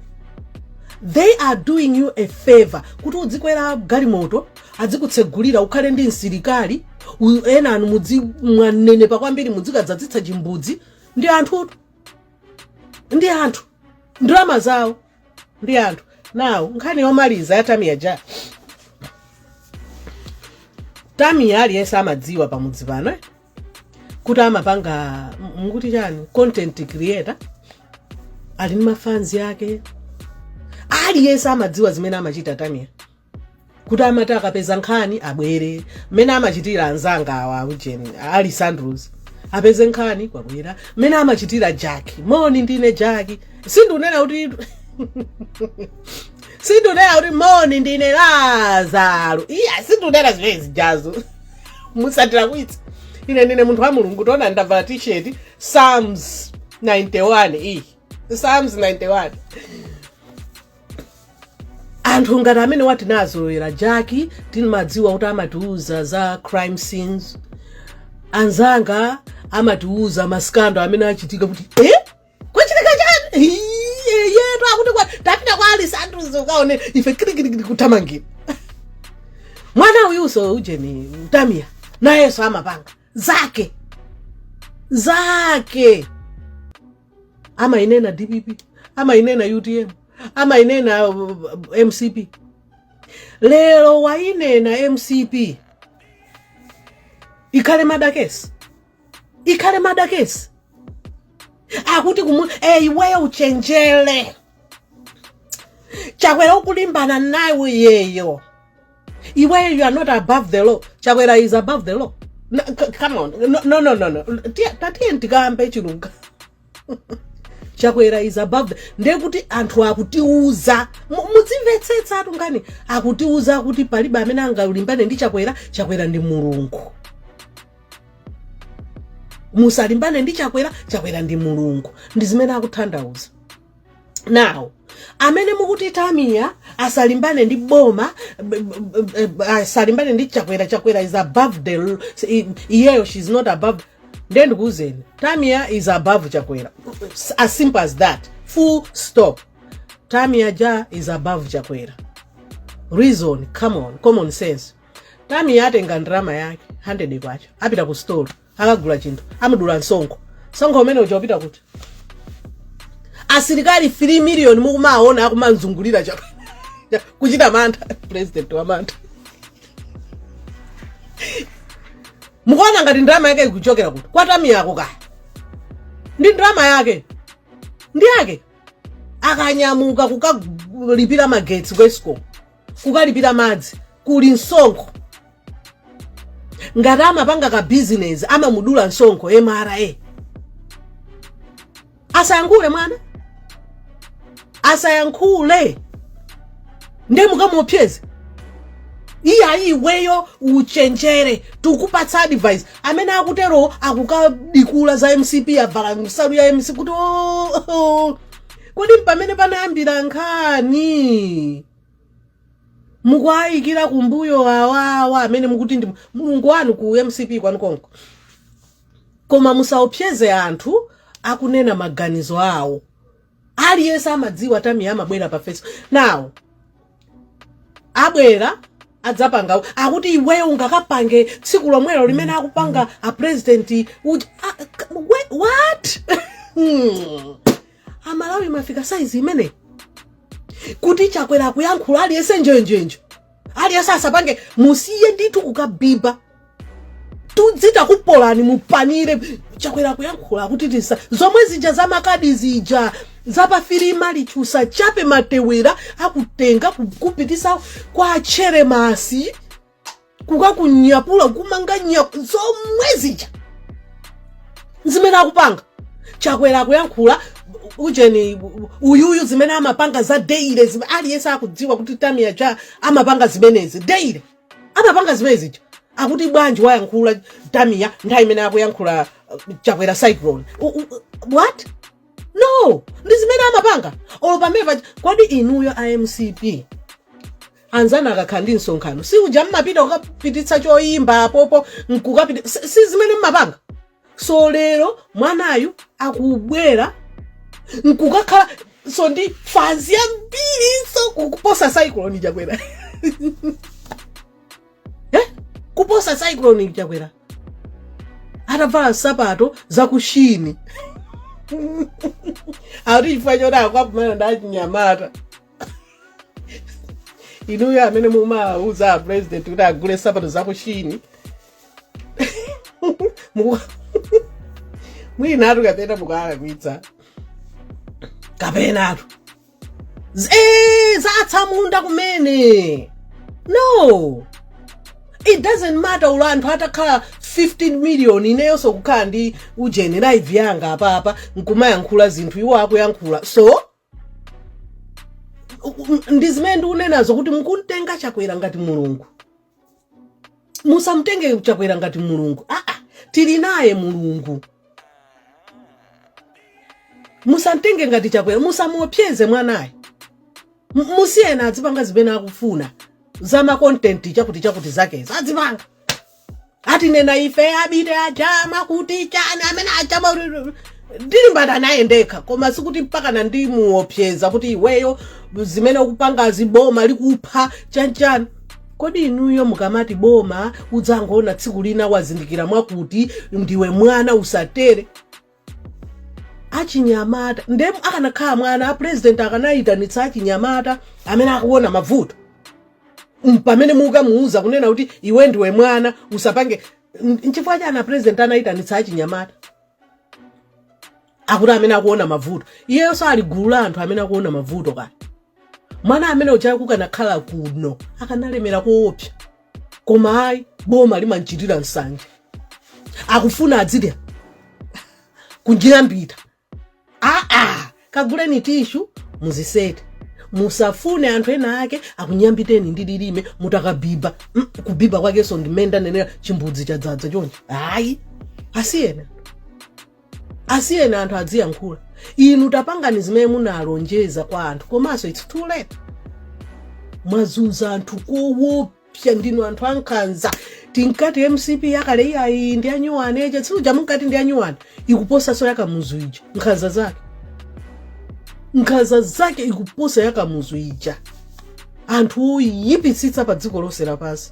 they are doing you a favor kuti udzikwera galimoto adzikutsegulira ukhale ndi msilikali u- enanu mudzi mwanenepa kwambiri mudzikadzadzitsa chimbudzi ndi anthutu ndi anthu ndalama zawo ndi anthu now nkhani yomaliza ya tamia ja tamia aliyense amadziwa pamudzi pano eh? kuti amapanga m- mukuti chani content creator ali ndi mafanzi ake aliyense amadziwa zimene amachita tamia kuti amati akapeza nkhani abwere mmene amachitira anzanga awa aujeni alisandros apeze nkhani kwabwera mmene amachitira jackie moni ndine jackie sindunena kuti sindunena kuti moni ndine lazaro iya sindunena zimene zijazo musandilakwitsa ine ndine munthu wa mulungu taona ndavala t-shirt psalms 91 iyi psalms 91 anthu ngati amene tinazolowera jaki timadziwa kuti amatiuza za crime scenes anzanga amatiuza masikando amene achitika kuti e kwachitika chani yeyetu akuti tapita kwa alisanduzo ukaone ife kirikirikiri kuthamangira mwana uyuso ujeni Tamiya nayenso amapanga zake zake amainena dpp amainena utm amainena uh, uh, mcp lero wainena mcp ikhale madakesi ikhale madakesi akuti kumu eh, iweyo uchenjere chakwera ukulimbana naye uyeyo iweyo you are not above the law chakwera is above the law no, come on no no no no, no. tatiye ndikambe chilunga chakwera is above ndekuti anthu akutiuza mudzimvetsetsa atungani akutiuza kuti palibe amene angalimbane ndi chakwera chakwera ndi mulungu musalimbane ndi chakwera chakwera ndi mulungu ndi zimene akutanthauza now amene mukuti tamiya asalimbane ndi boma b- b- b- b- asalimbane ndi chakwera chakwera is above the l- i- iyeyo she is not above ndiye ndikuuzeni tamiya is above chakwera as simple as that full stop tamiya ja is above chakwera reason come on common sense tamiya atenga ndrama yake 100 kwacha apita ku store akagula chinthu amudula msonkho msonkho umene uja ukupita kuti asilikali 3 miliyoni mukumaona akumamzungulira cha kuchita mantha president wa mantha mukuona ngati ndrama yake ikuchokera kuti kwa tamiya ko kaya ndi ndrama yake ndi yake akanyamuka kukalipira magetsi ku escom kukalipira madzi kuli msonkho ngati amapanga ka bizinesi amamudula msonkho mra asayankhule mwana asayankhule nde mukamuopseze iyayi iweyo uchenjere tukupatsa advice amene akutero akukadikula za mcp avala nsalu ya mcp kuti "Oh, oh, kodi mpamene panayambira nkhani mukuayikira kumbuyo awawa amene mukuti ndi mulungu wanu ku mcp kwanu konko koma musaopseze anthu akunena maganizo awo aliyense amadziwa tamiya amabwera pa facebook nawo abwera adzapanga akuti iweyo ungakapange tsiku lomwelo limene akupanga a president what amalawi mafika saizi imeneyi kuti chakwera akuyankhula aliyense njenjenje aliyense asapange musiye ndithu kukabiba tudzita kupolani mupanire chakwera kuyankhula kuti tisa zomwe zija za makadi zija zapafirima lichusa chape matewera akutenga kupititsa kwa cheremasi kukakunyapula kukumanga nyapu zomwe zija zimene akupanga chakwera akuyankhula ujeni uyuyu zimene amapanga za daily aliyense akudziwa kuti tamia ja amapanga zimenezi daily amapanga zimene zija akuti bwanji wayankhula tamia nthawi imene akuyankhula chakwera cyclone what no ndi zimene amapanga olo pamene paja kodi inuyo a mcp anzanu akakhala ndi msonkhano si uja mmapita kukapititsa choyimba apopo nkukapita si zimene mmapanga so lero mwanayu akubwera nkukakhalanso ndi fanzi yambirinso kuposa cyclone chakwera eh? kuposa cyclone chakwera atavala nsapato zakushini akuti chifukwa choti akukakumana ndi achinyamata inuyo amene mumawauza a president kuti agule nsapato zakushini mwinatu kapena mukuwalakwitsa kapenatu eh, zatsamunda kumene no it doesn't matter olo anthu atakhala 15 million ineyonso kukhala ndi ujeni live yanga apapa nkumayankhula zinthu iwo akuyankhulanso ndi zimene ndikunenazo kuti mukumtenga chakwera ngati mulungu musamtenge chakwera ngati mulungu aa tili naye mulungu musamtenge ngati chakwera musamuopseze mwanayo musiyeni adzipanga zimene akufuna za ma content chakuti chakuti zakezo adzipanga atinena ife abiti aja mwakuti chani amene aja amati ndilimbana naye ndekha koma sikuti mpakana ndimuopseza kuti iweyo zimene ukupangazi boma likupha chanchani kodi inuyo mukamati boma udzangoona tsiku lina wazindikira mwakuti ndiwe mwana usatere achinyamata nde akanakhala mwana apresident akanayitanitsa achinyamata amene akuona mavuto pamene mukamuuza kunena kuti iwe ndiwe mwana usapange nchifukwa chani apresident anayitanitsa achinyamata akuti amene akuona mavuto iyeyo sali gulu la anthu amene akuona mavuto kaya mwana amene uja kukanakhala kuno akanalemera koopsa koma ayi boma limamchitira nsanje akufuna adzidya kunyambita aa kaguleni tishu muzisete musafune anthu ena ake akunyambiteni ndi lilime mutakabiba mm, kubiba kwakenso ndimene ndanenera chimbudzi chadzadza chonchi ayi asiyena asiyeni anthu adziyankhula inu tapangani zimene munalonjeza kwa anthu komanso its too late mwazunza anthu kowopsa ndinu anthu ankhanza tinkati mcp yakale iyayi ndi anyuwani eti si uja munkati ndi anyuwani ikuposaso yakamuzu ija nkhanza zake nkhanza zake ikuposa yakamuzu ija anthu oyipitsitsa pa dziko lonse lapansi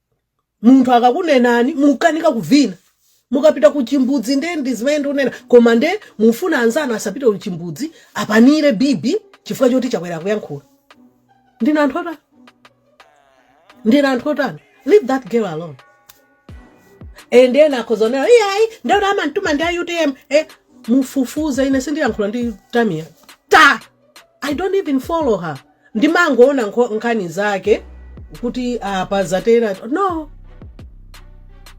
munthu akakunenani mukanika kuvina mukapita ku chimbudzi nde ndi zimene ndikunena koma nde mufuna anzanu asapite ku chimbudzi apanire bibi chifukwa choti chakwera kuyankhula ndinu anthu otani ndinu anthu otani leave that girl alone and then akhoza unena iyayi ndekuti amantuma ndi a utm eh, mufufuze ine sindiyankhula ndi tamia ta I don't even follow her ndimangoona nkho- nkhani zake kuti apa zatera no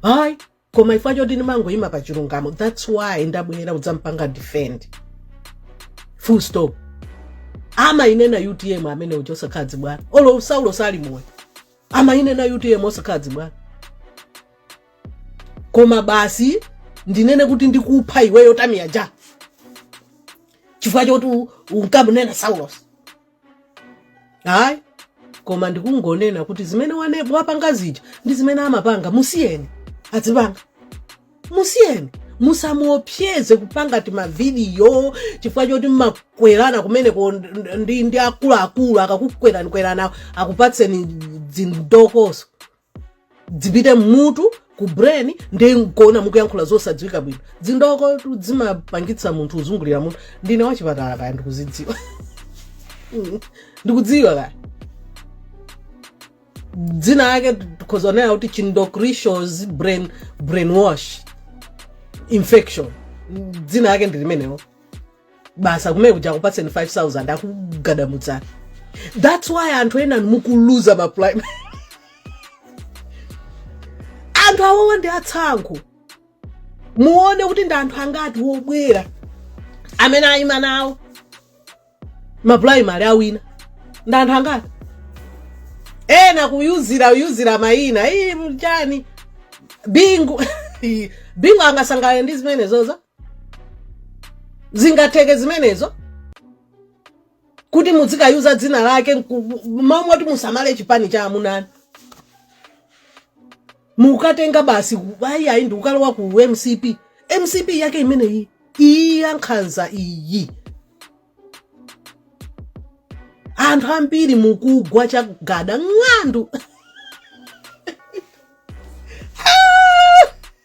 hayi koma ifwa choti ndimangoyima pa chilungamo that's why ndabwera udzampanga defend full stop amayinena utm amene uja osakhala dzibwana olo saulo sali moyo amayinena utm osakhala dzibwana koma basi ndinene kuti ndikupha iweyo tamia ja chifukwa choti u- unkamunena saulos hayi koma ndikungonena kuti zimene wane- wapanga zija ndi zimene amapanga musiyeni adzipanga musiyeni musamuopseze kupanga timavidiyo chifukwa choti mmakwerana kumeneko ndi, ndi akuluakulu akakukweranikwerani akupatseni dzindokozo dzipite mmutu ku brain ndi nkuona mukuyankhula zosadziwika bwino dzindoko tu dzimapangitsa munthu uzungulira mutu ndine wachipatala kaye ndikuzidziwa Mm, ndikudziwa kaya dzina yake tikhoza kunena kuti chindocrishos brain brainwash infection dzina lake ndi limenelo basi kumenekuja akupatseni 5000 akugadamutsani that's why anthu ena mukuluza ma primary anthu awo ndi atsankho muone kuti ndi anthu angati wobwera amene ayima nawo mapulaimari awina ndi anthu angati ena kuyuzira kuyuzira mayina ichi nchani bingu bingu angasangalale ndi zimenezo za zingatheke zimenezo kuti muzikayuza dzina lake moti musamale chipani cha amunani mukatenga basi ayi ayi ndikukalowa ku mcp mcp yake imeneyi iyi yankhanza iyi anthu ambiri mukugwa chagada ng'andu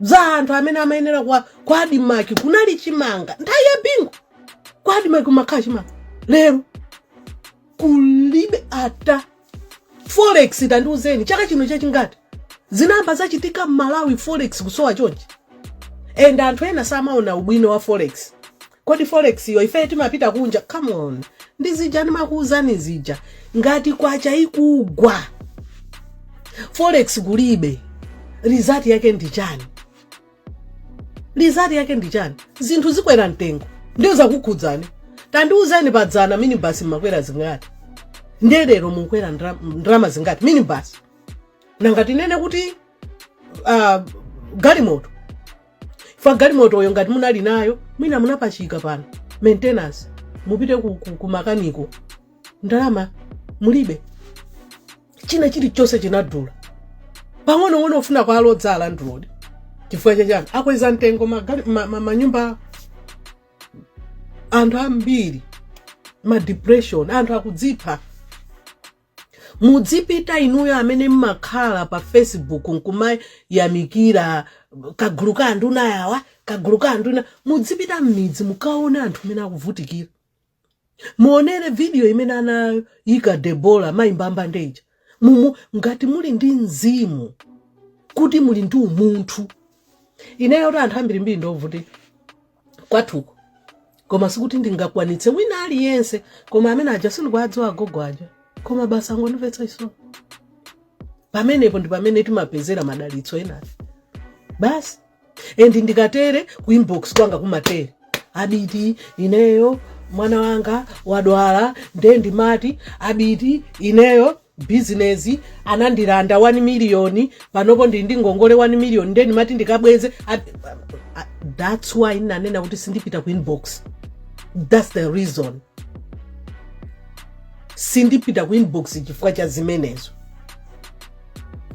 za anthu amene amayenera kwa adimaki kunali chimanga nthawi ya bingu kwa adimaki kumakhala chimanga lero kulibe ata forex tandiuzeni chaka chino chachingati zinamba zachitika m'malawi forex kusowa chonchi and anthu ena samaona ubwino wa forex kodi forex yo ife timapita kunja come on ndi zija ndimakuwuzani zija ngati kwacha ikugwa forex kulibe result yake ndi chani result yake ndi chani zinthu zikwera mtengo ndiyo zakukhudzani tandiwuzani padzana minibasi mmakwera zingati ndiye lero mukwera ndalama zingati minibasi nanga tinene kuti galimoto ife galimotoyo ngati munali nayo mwina munapachika pano maintenance mupite ku makaniko ndalama mulibe china chilichonse chinadula pang'onong'ono ufuna kuwalodza alandilodi chifukwa chachani akweza mtengo manyumba anthu ambiri ma depression anthu akudzipha Mudzipita inuyo amene mmakhala pa Facebook nkumayamikira kagulu ka anduna yawa, kagulu ka anduna. Mudzipita mmidzi mukaone anthu mmene akuvutikira. Muonere video imene anayika Debora Mai Mbambande ija. Mumu ngati muli ndi mzimu kuti muli ndi umunthu. Ineyo kuti anthu ambirimbiri ndi ovutika. kwathuko koma sikuti ndingakwanitse wina aliyense koma amene aja sindikuwadziwa agogo aja koma basi angondimvetsa chisoni pamenepo ndi pamene timapezera madalitso enatu basi and ndikatere ku inbox kwanga kumatere abiti ineyo mwana wanga wadwala nde ndimati abiti ineyo bizinezi anandilanda 1 miliyoni panopo ndili ndi ngongole 1 miliyoni nde ndimati ndikabweze that's why ndinanena kuti sindipita ku inbox that's the reason sindipita ku inbox chifukwa cha zimenezo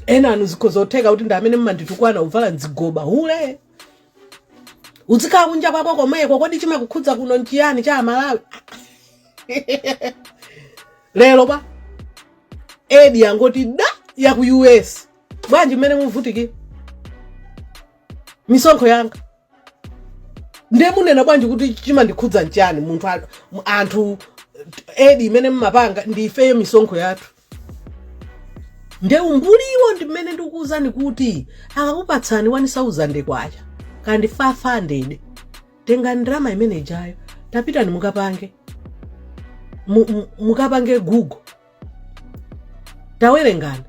enanu zikhoza kutheka kuti ndi amene mmanditukwana uvala nzigoba hule uzikhala kunja kwako komweko kodi chimakukhudza kuno nchiyani cha amalawi lero pa Edzi yangoti da ya ku us bwanji mmene muvutikira misonkho yanga ndiye munena bwanji kuti chimandikhudza nchani munthu a- mu- anthu Edzi imene mmapanga ndi ifeyo misonkho yathu nde umbuliwo ndi mmene ndikukuwuzani kuti akakupatsani 1000 kwacha kandi 500 tengani ndalama imene ijayo tapitani mukapange mu- mu- mukapange google tawerengani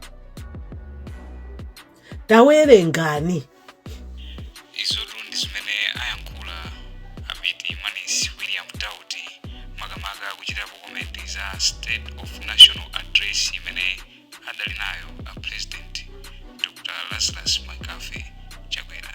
tawerengani izotu ndi zimene ayankhula abiti manis william dauti makamaka kuchitapo komenti za state of national address imene adali nayo a president dr lazarus mccarthy chakwera